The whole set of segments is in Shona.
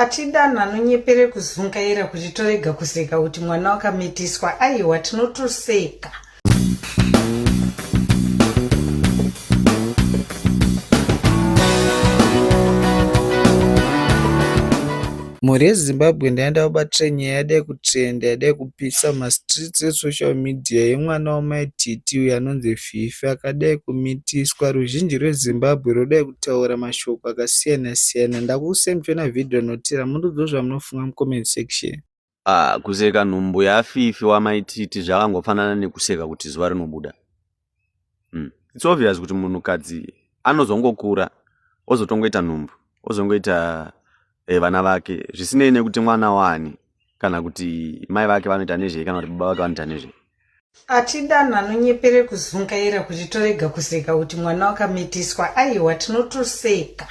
Ati Dan anonyepere kuzungaira kuti torega kuseka kuti mwana wakamitiswa aiwa tinotoseka. Mhuri yeZimbabwe ndaenda kubatira nyaya yada yekutrenda yada yekupisa mastreets esocial media yemwana wamai Titi uyo anonzi Mutwivhi akadai kumitiswa ruzhinji rweZimbabwe rwodai kutaura mashoko akasiyana siyana ndakuudzai muchiona video notera mundiudzewo zvamunofunga mucomment section. Ah kuseka nhumbu yaFifi wamai Titi zvakangofanana nekuseka kuti zuva rinobuda. Hmm. It's obvious kuti munhukadzi anozongokura ozotongoita nhumbu ozongoita eh, vana vake zvisinei nekuti mwana waani kana kuti mai vake vanoita nezvei kana kuti baba vake vanoita nezvei atidano anonyepere kuzungaira kuti torega kuseka kuti mwana wakamitiswa aiwa tinotoseka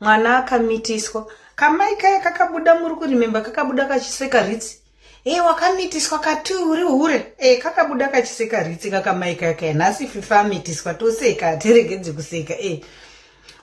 mwana akamitiswa kamai kaya kakabuda muri kurimemba kakabuda kachiseka ritsi Hey, wakamitiswa kati uri hure hey, eh, kakabuda kachiseka ritsi kakamai kaka nhasi fifa amitiswa toseka tiregedze kuseka hey. Eh.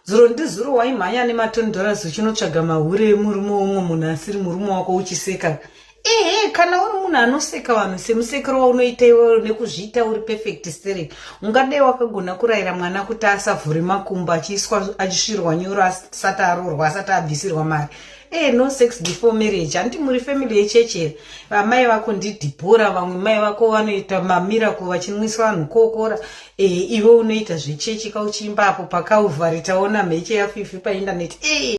zuro ndizuro waimhanya nematoni dollars uchinotsvaga mahure emurume umwe munhu asiri murume wako uchiseka ehe eh, kana uri munhu anoseka vanhu semusekero waunoita iwe nekuzviita uri perfect stere ungadai wakagona kurayira mwana kuti asavhure makumbo achiiswa achisvirwa nyoro asati aroorwa asati abvisirwa mari Hey, eh, no sex before marriage hanti muri family yechechi here vamai vako ndidhibhora vamwe mai vako vanoita mamirako vachinwisa vanhu kokora e, iwe unoita zvechechi kauchiimba apo pakauvhari taona mheche yafifi paindaneti e. Eh.